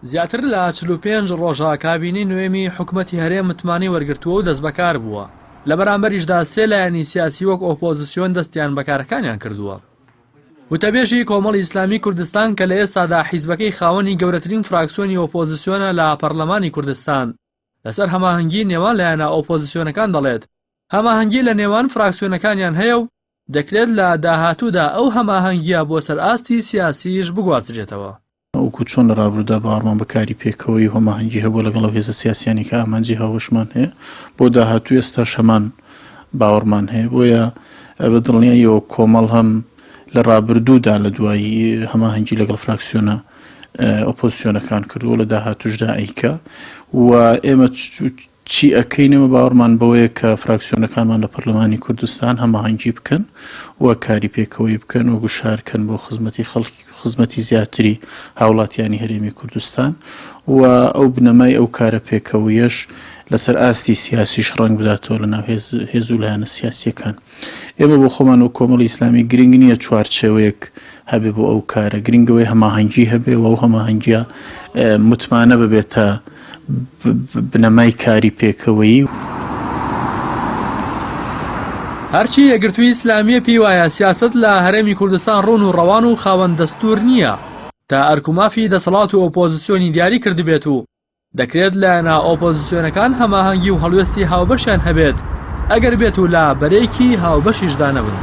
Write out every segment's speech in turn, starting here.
زیاتر لە چل و پێنج ڕۆژە کابینەی نۆیەمی حکومەتی هەرێم متمانەی وەرگرتووە و دەستبەکار بووە، لە بەرامبەریشدا سێ لایەنی سیاسی وەک ئۆپۆزسیۆن دەستیان بە کارەکانیان کردووە. وتەبێژی کۆمەڵی ئیسلامی کوردستان کە لە ئێستادا حیزبەکەی خاوەنی گەورەترین فراکسیۆنی ئۆپۆزسیۆنە لە پەرلەمانی کوردستان، لەسەر هەماهەنگی نێوان لایەنە ئۆپۆزسیۆنەکان دەڵێت، هەماهەنگی لە نێوان فراکسیۆنەکانیان هەیە و دەکرێت لە داهاتوودا ئەو هەماهەنگییە بۆ سەر ئاستی سیاسییش بگوازرێتەوە. وەکو چۆن لە ڕابروودا باوەڕمان بە کاری پێکەوەیی و هەماهەنگی هەبووە لەگەڵ ئەو هێزە سیاسییانەی کە ئامانجی هاوبەشمان هەیە، بۆ داهاتوو ئێستاش هەمان باوەڕمان هەیە. بۆیە بە دڵنیاییەوە کۆمەڵ هەم لە ڕابردوودا لە دوایی هەماهەنگی لەگەڵ فراکسیۆنە ئۆپۆزسیۆنەکان کردووە و لە داهاتووشدا ئەیکا و ئێمە چی ئەکەین ئێمە باوەڕمان بەوەیە کە فراکسیۆنەکانمان لە پەرلەمانی کوردستان هەماهەنگی بکەن و کاری پێکەوەیی بکەن و گوشارکەن بۆ خزمەتی خەڵک خزمەتی زیاتری هاوڵاتیانی هەرێمی کوردستان و ئەو بنەمای ئەو کارە پێکەوەیەش لەسەر ئاستی سیاسیش ڕەنگ بداتەوە لەناو هێز هێز و لایەنە سیاسیەکان. ئێمە بۆ خۆمان وەک کۆمەڵی ئیسلامی گرنگ نییە چوارچێوەیەک هەبێ بۆ ئەو کارە، گرنگ ئەوەیە هەماهەنگی هەبێ و ئەو هەماهەنگییە متمانە ببێتە بنەمای کاری پێکەوەیی. هەرچی یەکگرتووی ئیسلامییە پێی وایە سیاسەت لە هەرێمی کوردستان ڕوون و ڕەوان و خاوەن دەستوور نییە تا ئەرک و مافی دەسەڵات و ئۆپۆزسیۆنی دیاری کردبێت و دەکرێت لایەنە ئۆپۆزسیۆنەکان هەماهەنگی و هەڵوێستی هاوبەشیان هەبێت ئەگەر بێت و لە بەرەیەکی هاوبەشیشدا نەبن.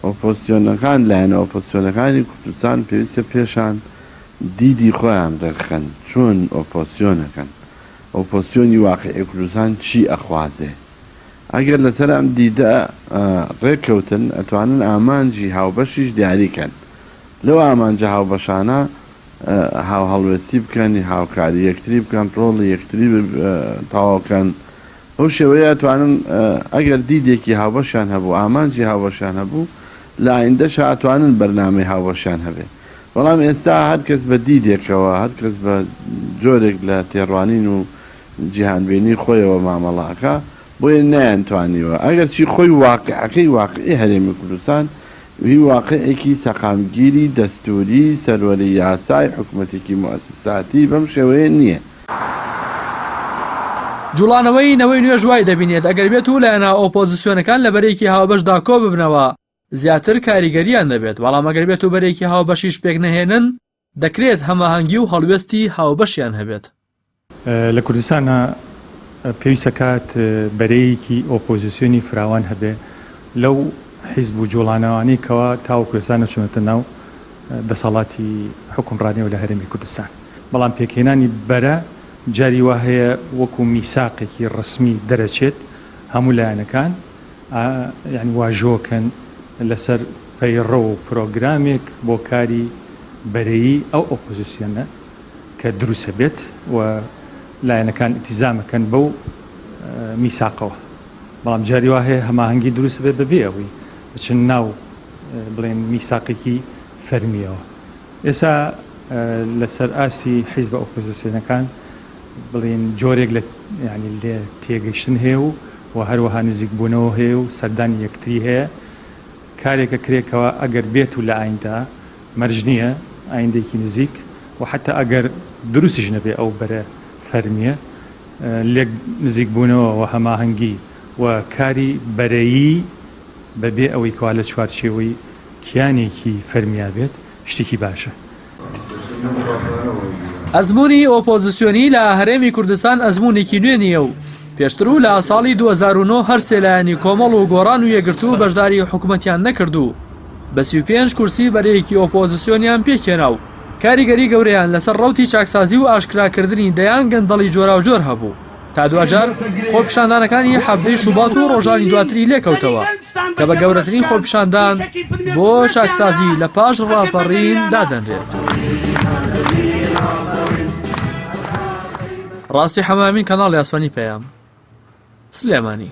ئۆپۆزسیۆنەکان، لایەنە ئۆپۆزسیۆنەکانی کوردستان پێویستە پێشان دیدی خۆیان دەرخەن چۆن ئۆپۆزسیۆنەکەن، ئۆپۆزسیۆنی واقعی کوردستان چی ئەخوازێ. ئەگەر لەسەر ئەم دیدە رێککەوتن ئەتوانن ئامانجی هاوبەشیش دیاری کەن. لەو ئامانجە هاوبەشانە، هاوهەڵوێستی بکەن، هاوکاری یەکتری بکەن، ڕۆڵی یەکتری تەواو بکەن، بەو شێوەیە ئەتوانن ئەگەر دیدێکی هاوبەشیان هەبوو، ئامانجی هاوبەشیان هەبوو، لە ئایندەشا ئەتوانن بەرنامەی هاوبەشیان هەبێ. بەڵام ئێستا هەر کەس بە دیدێکەوە، هەر کەس بە جۆرێک لە تێڕوانین و جیهانبینی خۆیەوە مامەڵە ئەکا بۆیە نەیانتوانیوە ئەگەرچی خۆی واقیعەکەی واقیعی هەرێمی کوردستان هی واقیعێکی سەقامگیری دەستووری سەروەری یاسای حکومەتێکی موئەسساتی بەم شێوەیە نییە. جوڵانەوەی نەوەی نوێش وای دەبینێت ئەگەر بێت و لایەنە ئۆپۆزسیۆنەکان لە بەرێکی هاوبەشدا کۆببنەوە زیاتر کاریگەرییان دەبێت، بەڵام ئەگەر بێت و بەرێکی هاوبەشیش پێکنەهێنن، دەکرێت هەماهەنگی و هەڵوێستی هاوبەشیان هەبێت. لە کوردستانا پێویست دەکات بەرەیەکی ئۆپۆزیسیۆنی فراوان هەبێ لەو حیزب و جوڵانەوانەی کەوا تاوەکو ئێستا نەچوونەتە ناو دەسەڵاتی حوکمڕانیەوە لە هەرێمی کوردستان. بەڵام پێکهێنانی بەرە جاری وا هەیە وەکو میساقێکی ڕەسمی دەرەچێت هەموو لایەنەکان، واژۆکەن لەسەر پەیڕەو و پرۆگرامێک بۆ کاری بەرەیی ئەو ئۆپۆزسیۆنە کە دروستە بێت و لایەنەکان ئیتیزامەکەن بەو میساقەوە بەڵام جاری وا هەیە هەماهەنگی دروست بێت بەبێ ئەوی بچن ناو بڵێن میساقێکی فەرمیەوە ئێسا لەسەر ئاستی حیزبە ئۆپۆزسیۆنەکان بڵێین جۆرێک لە یانی لێ تێگەشتن هەیە و وە هەروەها نزیک بوونەوە هەیە و سەردانی یەکتری هەیە کارێکە کرێ کەوا ئەگەر بێت و لە ئایندا مەرج نیە ئایندەیەکی نزیک و حەتا ئەگەر دروستیش نەبێ ئەو بەرە فەرمیە لێک نزیک بوونەوە وە هەماهەنگی و کاری بەرەیی بە بێ ئەوەی کەوا لە چوارچێوەی کیانێکی فەرمیا بێت شتێکی باشە. ئەزموونی ئۆپۆزسیۆنی لە هەرێمی کوردستان ئەزموونێکی نوێ نییە و پێشتر و لە ساڵی 2009 هەر سێ لایەنی کۆمەڵ و گۆڕان و یەکگرتوو بەشداری حکومەتیان نەکرد و بە 35 کورسی بەرەیەکی ئۆپۆزسیۆنیان پێکهێنا و کاریگەری گەورەیان لەسەر ڕەوتی چاکسازی و ئاشکراکردنی دەیان گەندەڵی جۆراوجۆر هەبوو. تا دواجار خۆپیشاندانەکانی حەڤدەی شوبات و ڕۆژانی دواتری لێکەوتەوە. کە بە گەورەترین خۆپیشاندان بۆ چاکسازی لە پاش ڕاپەڕین دادەنرێت. ڕاستی حەمامین کەناڵی ئاسمانی پەیام سلێمانی